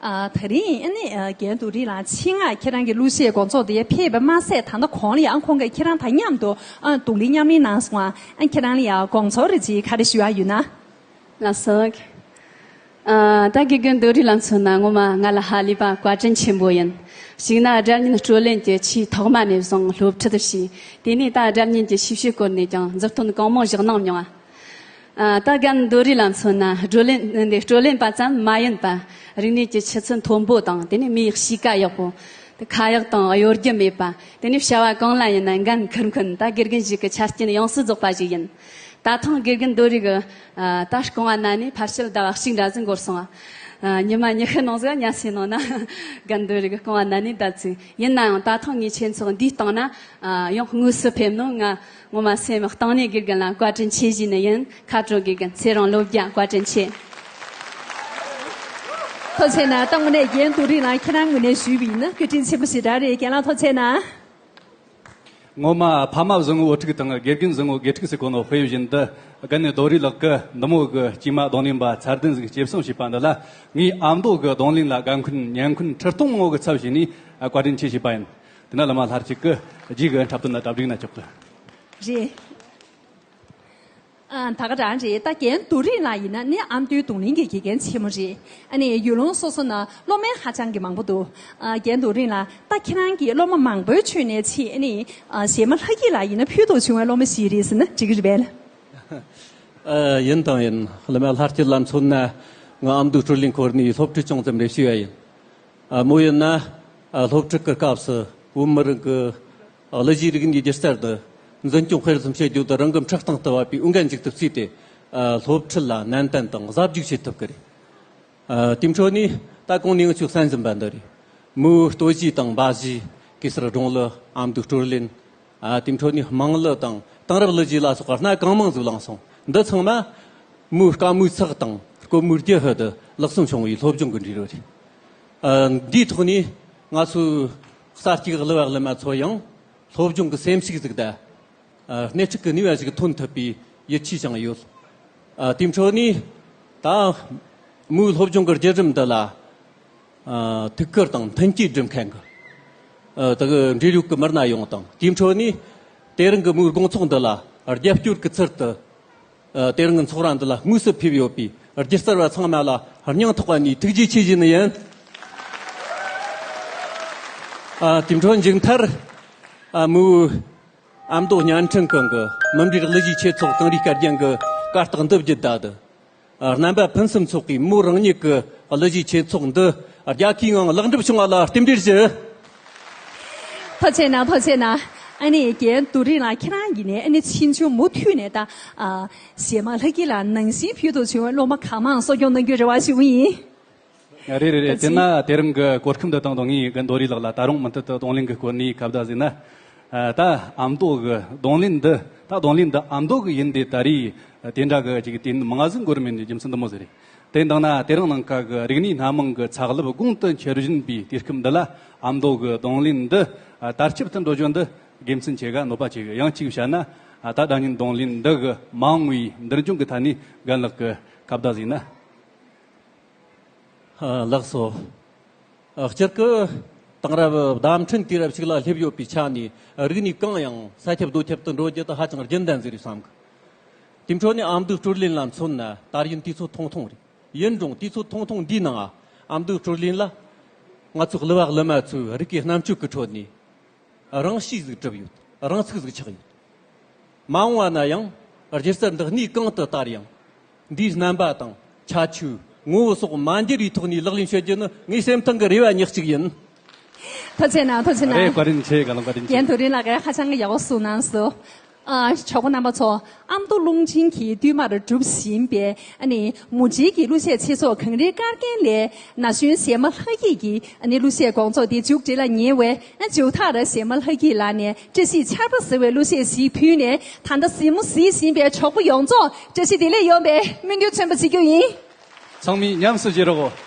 ད་རིང་ཨ་ནེ་རྒན་དུ་རི་ལང་ཕྱིན་སྔ་ཁྱེད་རང་གི་གླུ་གཞས་དགོང་ཚོགས་དེ་ཕེབས་པ་མ་ཟད་ད་ལྟ་གོང་ལ་ཡང་ཁོང་གིས་ཁྱེད་རང་དང་མཉམ་དུ་རྡུང་ལེན་མཉམ་ལེན་གནང་སོང་ཨ་ཁྱེད་རང་ལ་ཡང་དགོང་ཚོགས་རེ་རྗེས་ག་རེ་ཞུ་ཡ་ཡོད་ན། ལ་སོགས། ད་གི་རྒན་དུ་རི་ལང་མཚོན་ན་ངོ་མ་ང་ལ་ཧ་ལས་པ་བཀའ་དྲིན་ཆེན་པོ་ཡིན། གཅིག་ན་དགྲ་གཉེན་སྤྲོད་ལེན་གྱི་ཆེས་ཐོག་མ་ནས་བཟུང་སློབ་ཁྲིད་བྱས། དེ་ནས་ད་དགྲ་གཉེན་གྱི་ཞིབ་བཤེར་སྐོར་ནས་ཀྱང་མཛུབ་སྟོན་གང་མང་བཞག་གནང་མྱོང། ལྟ་སྒམ་རྡོ་རིང་ལ་མཚོན་ན་བགྲོ་གླེང་འདི་བགྲོ་གླེང་པ་ཙམ་མ་ཡིན་པར་རིག་གནས་ཀྱི་ཆུ་ཚད་མཐོན་པོ་དང་དེ་ནས་མིའི་གཤིས་ཀ་ཡག་པོ། ཁ་ཡག་དང་གཡོ་སྒྱུ་མེད་པ། དེ་ནས་བྱ་བ་གང་ལ་ཡིན་ན་འགན་འཁུར་མཁན་དག་དགེ་རྒན་ཞིག་གི་ཆ་རྐྱེན་ཡོངས་སུ་རྫོགས་པ་ཞིག་ཡིན། ད་ཐེངས་དགེ་རྒན་རྡོ་རིང་གི་ལྟ་སྐོང་བ་གནང་ནས་ཕར་ཕྱིར་ཟླ་བ་གཅིག་འདྲ་ཙམ་འགོར་སོང། ཉི་མ་ཉི་ཤུ་ནང་གཟའ་ཉི་ཤུའི་ནང་ན་དགེ་རྒན་རྡོ་རིང་གི་སྐོང་བ་གནང་ནས་བསྡད་ཚུལ། ཡིན་ནའང་ད་ཐེངས་ངས་ཁྱེད་ཚོར་འདིའི་སྟེང་ན་ཡང་དངོས་སུ་ཕེབས་ནས་ང་ངོ་མ་སེམས་གཏིང་ནས་དགེ་རྒན་ལ་བཀའ་དྲིན་ཆེ་བཞིན་ནི་ཡིན་ཁ་དྲོ་དགེ་རྒན་ཚེ་རིང་བློ་བརྒྱ་བཀའ་དྲིན་ཆེ། ཐོ་ཆེ་ན་སྟག་མོ་ནས་རྒན་དུ་རིང་ལ་ཁྱེད་རང་ངོས་ནས་ཞུས་བའི་ཡིན་བཀའ་དྲིན་ཆེན་པོ་ཞེ་དྲག་རེད་རྒན་ལགས་ཐོ་ཆེ་ན། ངོ་མ་ཕ་མ་བཟང་ངོ་བོ་ཕྲུག་དང་དགེ་རྒན་བཟང་ངོ་དགེ་ཕྲུག་སི་གོ་ནོ་ཧྥེ་ཡོད་བཞིན་དུ་དགའ་ནི་རྡོ་རི་ལགས་ཀི་འདི་མོ་གི་ཅིག་མ་གདོང་ལེན་པ་ཚར་དན་ཟིག་སྐྱེ་བསྲིང་བྱས་པ་འདི་ལ་ངའི་ཨ་མདོ་གི་གདོང་ལེན་ལ་དགའ་མཁུན་ཉན་མཁུན་ཁྲི་སྟོང་ངོ་གི་ཚབ་བྱས་ནས་བཀའ་དྲིན་ཆེ་བྱས་པ་ཡིན། དེ་ན་ལ་མ་ལྷར་གྱི་སྐུ། རྒྱུད་གོས་འཁྲབ་སྟོན་ན་གྲབ་རིག་ན་ཅོག་ཙེ། རེད་ཨང། ད་ག་རང་རེད་ད་གན་རྡོ་རིང་ལ་ཡིན་ན་ནི་ཨ་མདོའི་རྡུང་ལེན་གྱི་དགེ་རྒན་ཆེན་མོ་རེད་ཨ་ནི་ཡུལ་ལུང་སོ་སོ་ན་སློབ་མའི་ཧ་ཅང་གི་མང་པོ་འདུག་ཨང་གན་རྡོ་རིང་ལ་ད་ཁྱེད་རང་གི་སློབ་མ་མང་པོའི་ཁྲོད་ནས་ཆེས་ཨ་ནི་གཞས་མ་ལྷ་སྐྱིད་ལ་ཡིན་ན་ཕུལ་དུ་བྱུང་བའི་སློབ་མ་ཞིག་རེད་ཟེར་ན་འགྲིག་གི་རེད་བལ། ཡིན་དང་ཡིན། ལ་མ་ལྷར་གྱིས་ལ་མཚོན་ན་ང་ཨ་མདོའི་སྤྲུ་ལིང་ཁོར་ནས་སློབ་ཁྲིད་ཅུང་ཙམ་རེ་ཞུས་ཡ་ཡིན། མོ་ཡིན་ན་སློབ་ཕྲུག་གི་སྐབས་སུ་བོད་མི་རིགས་ཀྱི་གླུ་གཞས་རིག་གནས་སྒྱུ་རྩལ་དུ་འཛིན་སྐྱོང་སྤེལ་གསུམ་བྱེད་རྒྱུ་དེ་རང་གི་འཁྲབ་སྟངས་ལྟ་བ་པའི་དབུ་འགན་འཇུག་ཐུབ་རྩིས་ཏེ་སློབ་ཁྲིད་ལ་ནན་ཏན་དང་གཟབ་རྒྱུག་བྱེད་ཐུབ་ཀྱི་རེད། དེའི་འཕྲོ་ནས་ད་གོང་ནས་ང་ཚོས་བསམ་བཞིན་པ་འདི་རེད། མོའི་ལྟོ་གཞས་དང་འབའ་གཞས་གེ་སར་སྒྲུང་གླུ་ཨམ་དུག་སྤྲོ་ལེན། དེའི་འཕྲོ་ནས་དམངས་གླུ་དང་དེང་རབས་གླུ་བརྗིད་ལ་སོགས་པ་སྣ་གང་མང་གཟུགས་བསླངས་སོང། འདི་ཚང་མ་མུའུ་དཀར་མོའི་ཚགས་དང་རྐོ་མུའུ་རྒྱལ་ཧོད་དུ་ལག་བསམ་བྱུང་བའི་སློབ་སྦྱོང་གི་འབྲི་རུ་རེད། འདིའི་ཐོག་ནས་ང་ཚོའི་གསར་སྐྱེས་གླུ་བ་གླུ་མ་ཚོ་ཡང་སློབ་སྦྱོང་གི་སེམས་ཤུགས་གཟུགས་བརྡ་སྣེ་ཁྲིད་ཀྱི་ནུས་པ་ཞིག་ཐོན་ཐུབ་པའི་ཡིད་ཆེས་བཅངས་ཡོད། དེའི་འཕྲོ་ནས་ད་མུའུ་སློབ་སྦྱོང་གི་བརྒྱུད་རིམ་འདི་ལ་ཐུགས་ཁུར་དང་མཐུན་རྐྱེན་སྒྲུབ་མཁན་གྱི་དག་འབྲེལ་ཡོད་ཀྱི་མི་སྣ་ཡོངས་དང་དེའི་འཕྲོ་ནས་དེ་རིང་གི་དམུས་དགོང་ཚོགས་འདུ་ལ་རྒྱབ་སྐྱོར་གྱི་ཚུལ་དུ་དེ་རིང་གི་ཚོགས་ར་འདི་ལ་དངོས་སུ་ཕེབས་ཡོད་པའི་སྒྱུ་རྩལ་བ་ཚང་མ་ལ་སྙིང་ཐག་པ་ནས་ཐུགས་རྗེ་ཆེ་བཞིན་ཡིན། དེའི་འཕྲོ་མཇུག་མཐར་དམུས་ཨ་མདོ་བརྙན་འཕྲིན་ཁང་གི་མི་འབྲེལ་གླུ་གཞས་ཆེད་ཚོགས་དང་རིགས་སྐལ་རྒྱན་གྱི་བཀའ་རྟགས་འདི་བརྒྱུད་ད་དུ། རྣམ་པ་ཕུན་སུམ་ཚོགས་པའི་མོ་རང་ཉིད་ཀྱི་གླུ་གཞས་ཆེ་ཚོགས་འདི་རྒྱལ་ཁའི་ངང་ལེགས་འགྲུབ་བྱུང་བ་ལ་རྟེན་འབྲེལ་ཞུ། ཐོ་ཆེ་ན་ཐོ་ཆེ་ན། ཨ་ནི་རྒྱལ་དུ་རིང་ལགས་ཁྱེད་རང་གིས་ནས་ཨ་ནི་ཕྱིས་འབྱུང་མུ་མཐུད་ནས་ད་ཞེས་མ་ལྷ་སྐྱིད་ལ་ནང་བཞིན་ཕུལ་དུ་བྱུང་བའི་སློབ་མ་གང་མང་གསོ་སྐྱོང་གནང་རྒྱུའི་རེ་བ་ཞུ་གི་ཡིན། རེད་རེད་རེད་དེ་ན་དེ་རིང་གི་གོ་སྐབས་འདི་སྟེང་དུ་ངས་ཡི་གེ་མདོ་རིས་ལགས་ལ་ད་རུང་མུ་མཐུད་དུ་གདོང་ལེན་གི་སྐོར་ནས་གབ་བརྡ་ཟེར་ན། ད་ཨ་མདོ་གི་གདོང་ལེན་འདི་ད་གདོང་ལེན་འདི་ཨ་མདོ་གི་ཡིན་ཏེ་ད་རེས་དེ་འདྲ་གི་ཅིག་དེ་མ་ཟིག་མགོར་མེད་ནས་རྒྱུ་མཚན་དུ་མོ་ཟེར། དེ་འདང་ན་དེ་རིང་ནང་ཁ་གི་རིག་གནས་སྣ་མང་གི་ཚགས་ལབ་དགུང་དུ་འཁྱེར་བཞིན་པའི་དུས་སྐབས་འདི་ལ་ཨ་མདོ་གི་གདོང་ལེན་འདི་དར་ཁྱབ་ཏུ་འགྲོ་རྒྱུ་འདི་དགེ་མཚན་ཆེ་ག་ནོར་པ་ཆེ་གི་ཡང་གཅིག་བྱས་ན་ད་སྒྲ་སྙན་གདོང་ལེན་འདི་གི་མང་བའི་འདིར་འབྱུང་གི་ཐ་ནས་རྒན་ལགས་ཀྱི་གབ་བརྡ་ཟེར་ན། ལགས་སོ། སྤྱིར་སྐུ་དང་རབ་བདམས་ཁྲིམས་དུས་རབས་ཤིག་ལ་སླེབས་ཡོད་པའི་ཆ་ནས་རིགས་ནི་གང་ཡང་ས་ཁྱབ་རྡོ་ཁྱབ་ཏུ་འགྲོ་རྒྱུ་དེ་ཧ་ཅང་རྒྱུན་ལྡན་ཟེར་བའི་བསམ་གི། དེའི་འཕྲོ་ནས་ཨ་མདོའི་སྤྲུལ་གླིང་ལ་མཚོན་ན་དར་ཡིན་དུས་ཚོད་ཐུང་ཐུང་རེད། ཡིན་རུང་དུས་ཚོད་ཐུང་ཐུང་འདིའི་ནང་ཨ་མདོའི་སྤྲུལ་གླིང་ལ་ང་ཚོ་གླུ་བ་གླུ་མ་ཚོས་རིགས་ཀྱི་རྣམ་དཔྱོད་ཀྱི་ཁྲོད་ནས་རང་གཤིས་ཟིག་གྲུབ་ཡོད་རང་ཚུགས་ཟིག་ཆགས་ཡོད། མ་འོངས་བ་ན་ཡང་སྒྱུ་རྩལ་འདི་གནས་གང་དུ་དར་ཡང། འདིའི་རྣམ་པ་དང་ཁྱད་ཆོས། ངོ་བོ་སོགས་མ་འདྲེས་པའི་ཐོག་ནས་ལག་ལེན་བྱེད་རྒྱུ་ནི་ངའི་སེམས་ཐག་གི་རེ་བ་ཉག་གཅིག་ཡིན། ཐུགས་ཆེ་གནང་ཐུགས་ཆེ་གནང། རེད་བཀའ་དྲིན་ཆེ་དགའ་ལ་བཀའ་དྲིན་ཆེ། རྒན་དུ་རིན་ལགས་ཧ་ཅང་གི་ཡག་པོ་གསུངས་གནང་སོང། ཆོས་གོ་རྣམ་པ་ཚོ་ཨ་མདོ་ཀླུང་ཆེན་གྱིས་བསྟུད་མར་སྒྲུབ་བཞིན་པའི་ནི་མུ་འབྲེལ་གྱི་གླུ་གཞས་ཚེ་སྲོག་གངས་རིའི་སྐར་རྒྱན་ལས་ན་གཞོན་གཞས་མ་ལྷ་སྐྱིད་ཀྱི་ནི་གླུ་གཞས་དགོངས་རྫོགས་འདི་མཇུག་བསྒྲིལ་ལ་ཉེ་བའི་མཇུག་མཐར་གཞས་མ་ལྷ་སྐྱིད་ལགས་ནས་བཀྲ་ཤིས་ཆར་པ་ཟེར་བའི་གླུ་གཞས་ཤིག་ཕུལ་ནས་ད་ལྟ་གཟིགས་མོ་གཟིགས་བཞིན་པའི་གྲོགས་པོ་ཡོངས་རྫོགས་བཀྲ་ཤིས་བདེ་ལེགས་ཡོང་པའི་སྨོན་འདུན་མཚོན་པ་བྱེད་རྒྱུ་ཡིན། ཚང་མས་ཉམས་སུ་བཞེས་རོགས།